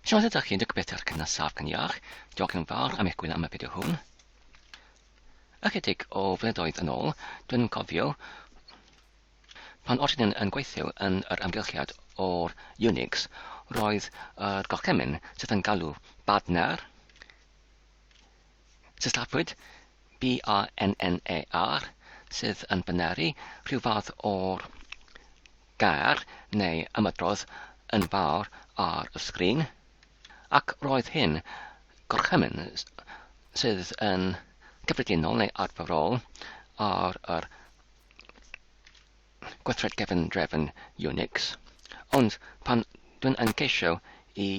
Siawns ydych chi'n dygybeth ar gynas saf gan iach. Diolch yn fawr am eich gwyno am y fideo hwn. Ychydig o flynyddoedd yn ôl, dwi'n cofio pan oedden nhw'n yn gweithio yn yr amgylchiad o'r Unix, roedd yr gorchymyn sydd yn galw badner, sillafuwyd B-A-N-N-E-R, sydd yn byneru rhyw fath o'r gair neu ymadrodd yn fawr ar y sgrin, ac roedd hyn, gorchymyn sydd yn gyffredinol neu arferol ar yr gweithred gefndrefn Unix, ond pan dwi'n yn ceisio i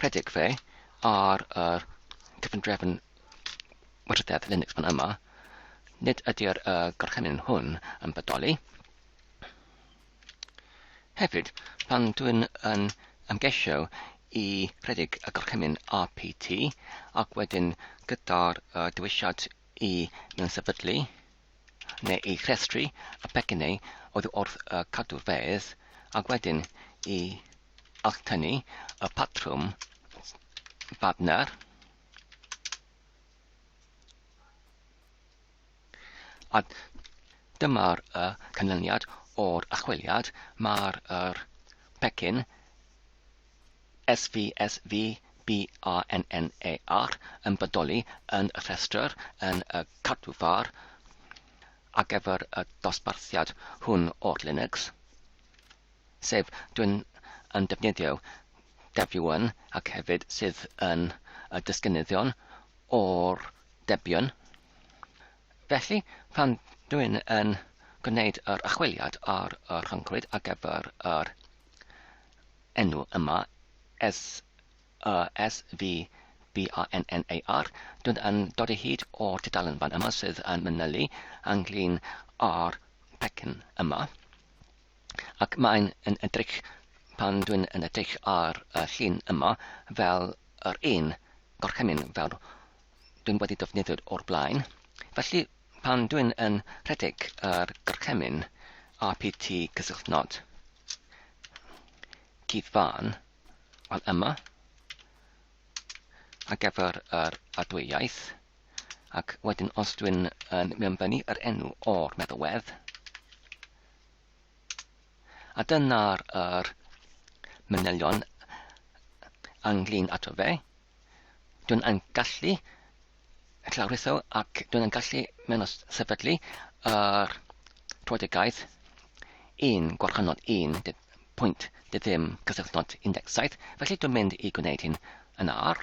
rhedeg fe ar yr gefndrefn Wrthedd Linux fan yma, nid ydy'r uh, gorchymyn hwn yn bodoli. Hefyd, pan dwi'n yn ymgeisio i rhedeg y gorchymyn RPT ac wedyn gyda'r uh, dewisiad i mewn sefydlu neu i rhestru y pecynnau oedd wrth uh, cadw fedd ac wedyn i alchtynu y patrwm badner A dyma'r y canlyniad o'r achweliad, mae'r yr pecyn SVSVBANNAR yn bodoli yn y rhestr yn y cadw far ar gyfer y dosbarthiad hwn o'r Linux. sef dwi'n yn defnyddio debian ac hefyd sydd yn y disgynyddion o'r debian. Felly, pan dwi'n yn gwneud yr achwiliad ar y rhyngrwyd ar gyfer yr enw yma, S, y S, V, B, A, N, N, A, R, dwi'n yn dod i hyd o'r tudalen fan yma sydd yn manylu ynglyn â'r pecyn yma. ac mae'n yn edrych pan dwi'n yn edrych ar y llun yma fel yr un gorchymyn fel dwi'n wedi defnyddio o'r blaen. Felly pan dwi'n yn rhedeg yr gorchymyn RPT cysylltnod cudd fan wel yma ar gyfer yr adwyaeth Ac wedyn os dwi'n yn mewnbynnu yr enw o'r meddalwedd, a dyna'r yr manylion ynglyn ato fe, dwi'n yn gallu llawritho ac dwi'n yn gallu mewn sefydlu yr troedigaeth un gwarchynod un pwynt ddim cysylltnod 17, felly dwi'n mynd i gwneud hyn yn ar.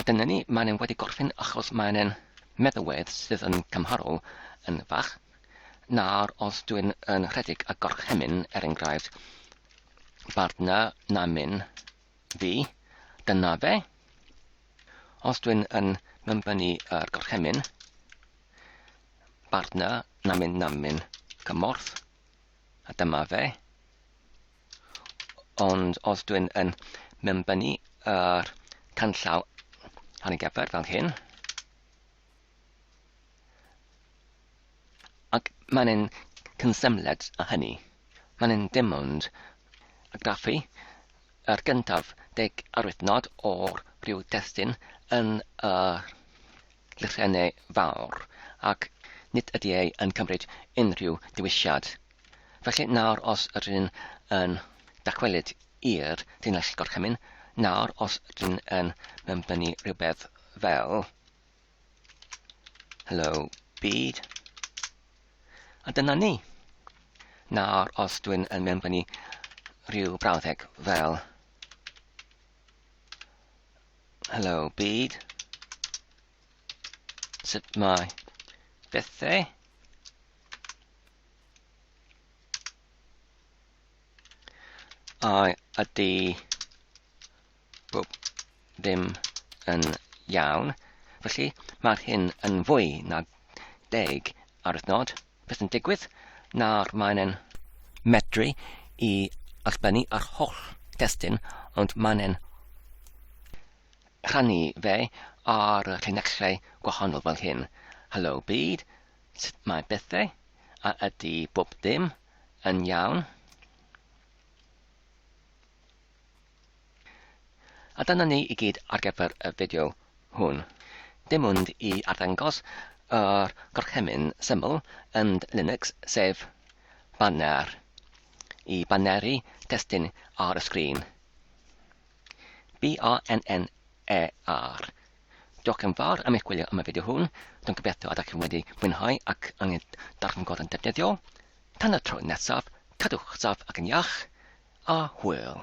A dyna ni, mae'n e'n wedi gorffen achos mae'n e'n meddywedd sydd yn cymharol yn fach. Nawr, os dwi'n yn rhedeg a gorchemyn, er enghraifft, bartner na myn, Fi, dyna fe. Os dwi'n yn mymbynnu yr gorchemyn, bartner namyn namyn cymorth, a dyma fe. Ond os dwi'n yn mymbynnu yr canllaw ar y gyfer fel hyn, Ac mae'n ein cyn-symled â hynny, mae'n ein dim ond argraffu yr gyntaf deg arwythnod o'r rhyw destun yn y Llythrennau Fawr, ac nid ydy e yn cymryd unrhyw ddewisiad. Felly, nawr os ydyn yn dychwelyd i'r llinell gorchymyn, nawr os ydyn yn mewnbynnu rhywbeth fel. Hello byd. A dyna ni. Nawr os dwi'n yn mewnbynnu rhyw brawddeg fel Hello byd. Sut mae bethau? I ydy Bob dim yn iawn. Felly, mae'r hyn yn fwy na deg ar y nod. Beth yn digwydd? Nawr mae'n e'n medru i allbynnu ar holl destun, ond mae'n e'n rhannu fe ar y llinellau gwahanol fel hyn. Hello byd, sut mae bethau, a ydy bob dim yn iawn? A dyna ni i gyd ar gyfer y fideo hwn. Dim ond i arddangos yr gorchymyn syml yn Linux sef Banner i baneru testun ar y sgrin. B-A-N-N-E-R. Diolch yn fawr am eich gwylio am y fideo hwn. Dwi'n gobeithio ydych chi'n wedi mwynhau ac yn ei darganfod yn defnyddiol. Tan y tro nesaf, cadwch saf ac yn iach. A hwyl.